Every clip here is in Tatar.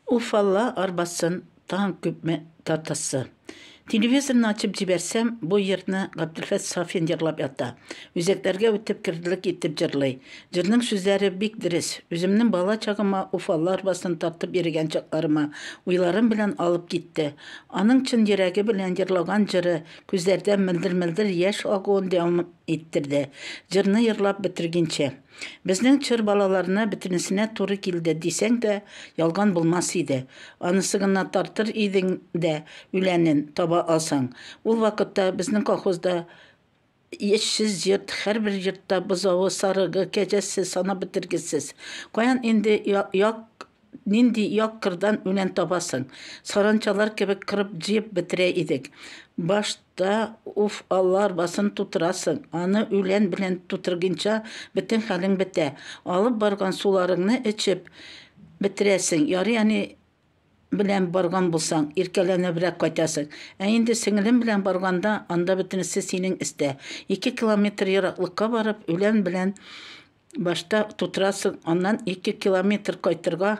Уфалла арбасын таң күпме татысы. Телевизорны ачып җибәрсәм, бу йырны Габделфәт Сафин җырлап ята. Үзәкләргә үтеп кердилек итеп җырлый. Җырның сүзләре бик дөрес. Үземнең бала чагыма Уфалла арбасын тартып йөрегән чакларыма, уйларым белән алып китте. Аның чын йөрәге белән җырлаган җыры, күзләрдән мөлдер-мөлдер яшь агуын дәвам Иттерде. Җырны ерлап бетергинче. Безнең чор балаларына бөтенесенә туры килде дисәң дә, ялган булмас иде. Анысы гына тартыр идең дә үләнен таба алсаң. Ул вакытта безнең колхозда эшсез йорт, һәрбер йортта бозавы, сарыгы, кәҗәсе санап бетергесез. Каян инде як Нинди як кырдан үлән табасың? Саранчалар кебек кырып-җыеп бетерә идек. Башта, уф, алла арбасын тутырасың, аны үлән белән тутыргинча бөтен хәлең бетә. Алып барган суларыңны эчеп бетерәсең, ярый әни белән барган булсаң, иркәләнебрәк кайтасың. Ә инде сеңелем белән барганда, анда бөтенесе синең эстә. Ике километр ераклыкка барып, үлән белән Башта тутырасың, аннан ике километр кайтырга,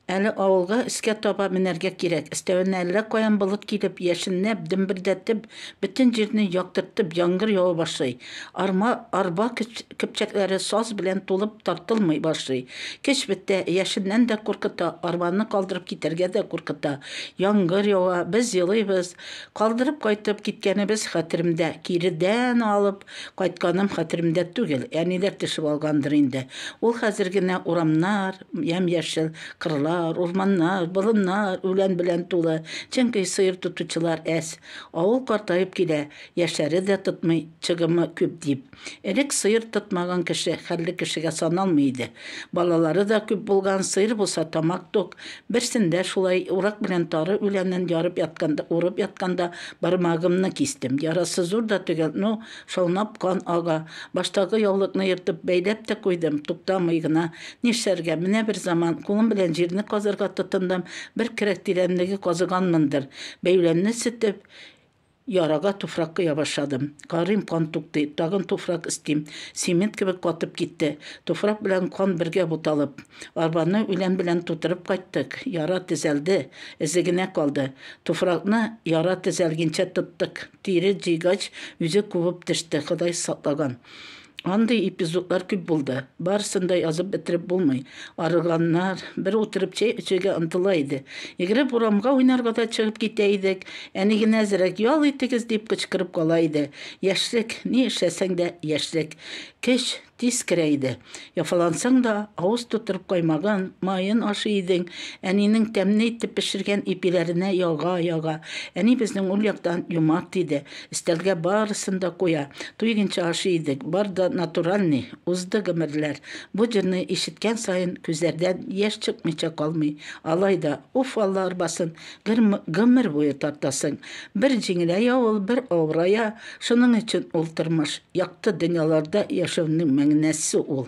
әле авылга өскә таба менәргә кирәк. Өстәвенә әллә каян болыт килеп, яшенләп, дөмбердәтеп, бөтен җирне яктыртып яңгыр ява башлый. Арма, арба көпчәкләре саз белән тулып тартылмый башлый. Көч бетә, яшеннән дә куркыта, арбаны калдырып китәргә дә куркыта. Яңгыр ява, без елыйбыз. Калдырып кайтып киткәнебез хәтеремдә, киредән алып, Кайтканым хәтеремдә түгел, әниләр тешеп алгандыр инде. Ул хәзер генә урамнар, ямь-яшел кырлар, урманнар, болыннар, үлән белән тулы, чөнки сыер тотучылар әз. Авыл картаеп килә, яшьләре дә тотмый, чыгымы күп дип. Элек сыер тотмаган кеше хәлле кешегә саналмый иде. Балалары да күп булган, сыер булса тамак тук, Берсендә шулай, урак белән тары үләнен ярып ятканда, урып ятканда, бармагымны кистем. Ярасы зур да төгәл, ну, шаунап кан ага. Баштагы яулыкны ертып, бәйләп тә куйдым, туктамый гына. Нишләргә, менә бер заман, кулым белән җирне казырга тотындым, бер керәк тирәнлеге казыганмындыр, бәйләмне сетеп, Ярага туфрак коя башладым. Карыйм, кан туктый. Тагын туфрак эстим. Цемент кебек катып китте. Туфрак белән кан бергә буталып. Арбаны үлән белән тутырып кайттык. Яра төзәлде. Эзе генә калды. Туфракны яра төзәлгенчә тоттык. Тире җыйгач, үзе кубып төште, Ходай саклаган. Андый эпизодлар күп булды. Барысын да язып бетереп булмый. Арыганнар, бер утырып чәй эчергә омтыла иде. Йөгереп урамга уйнарга да чыгып китә идек. Әни генә әзрәк ял итегез дип кычкырып кала иде. Яшьлек, ни эшләсәң дә яшьлек. Көч тиз керә иде. Яфалансаң да, авыз тутырып каймагын, маен ашый идең, әнинең тәмле итеп пешергән ипиләренә яга-яга. Әни безнең ул яктан юмарт иде. Өстәлгә барысын да куя. Туйгенча ашый идек, бар да натуральный. Узды гомерләр. Бу җырны ишеткән саен күзләрдән яшь чыкмыйча калмый. Алай да, уф, алла арбасын, гер гомер буе тартасың. Бер җиңеләя ул, бер авырая, шуның өчен ул тормыш. Якты дөньяларда яшәүнең мәгънәсе ул.